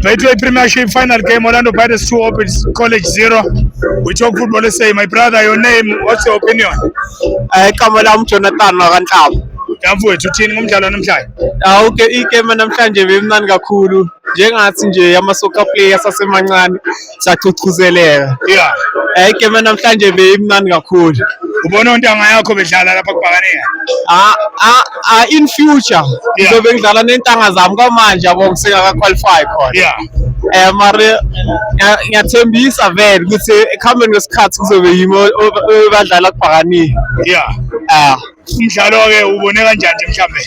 Betway Premiership final game, Orlando Pirates 2, Open College 0. We talk football say, my brother, your name, what's your opinion? Eh, igama lami Jonathan wakanhlaba. Mfowethu uthini ngomdlalo namhlanje? Ah, okay, igame namhlanje bemnani kakhulu. Njengathi nje ama soccer players asemancane sachuchuzeleka yeah eh igame namhlanje beyimnandi kakhulu ubona ontanga yakho bedlala lapha kubhakaniya ah ah ah in future ngizobe ngidlala nentanga zami kwamanje yabo ngisengaka qualify khona yeah eh mari ngiyathembisa vele ukuthi ekuhambeni kwesikhathi kuzobe yimi badlala kubhakaniya yeah ah umdlalo-ke ubone kanjani nje mhlambe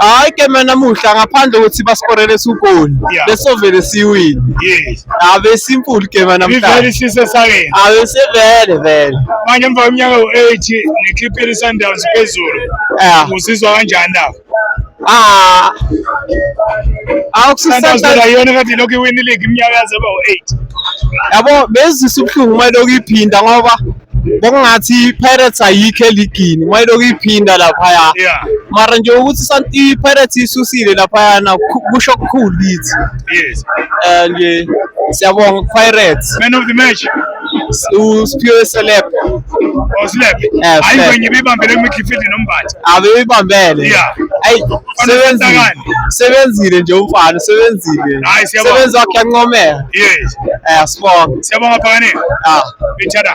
hayi ke mina namuhla ngaphandle kokuthi basikorele sugoli Yeah. besovele siwini yes abe simple ke mina ivele namhlanje isise sakeni abe sevele vele manje emva kweminyaka u-eight nekliphile i-sundowns phezulu eh uzizwa kanjani na ah sundowns awukusisanda phela yona kade ilokhu iwini league iminyaka yaze ba u-eight yabo bezisa ubuhlungu uma lokhu iphinda ngoba bekungathi i-pirates ayikho eligini uma ilokhu iphinda laphaya Yeah. mara nje ukuthi Sun- i-pirates isusile laphayana ku- kusho kukhulu kithi Yes. Eh, nje siyabonga ku-pirates Man of the match. usphiwe seleb Oslep. Eh, Hayi Slep. kwenye ibibambele kumidfield nombatha. abebibambele Yeah. ayi sebenzile Unokhethakani. sebenzile nje umfana sebenzile Hayi, siyabonga. sebenzi wakhe yancomeka Yes. eh sibonga Siyabonga Phakaneni. ah Ithada.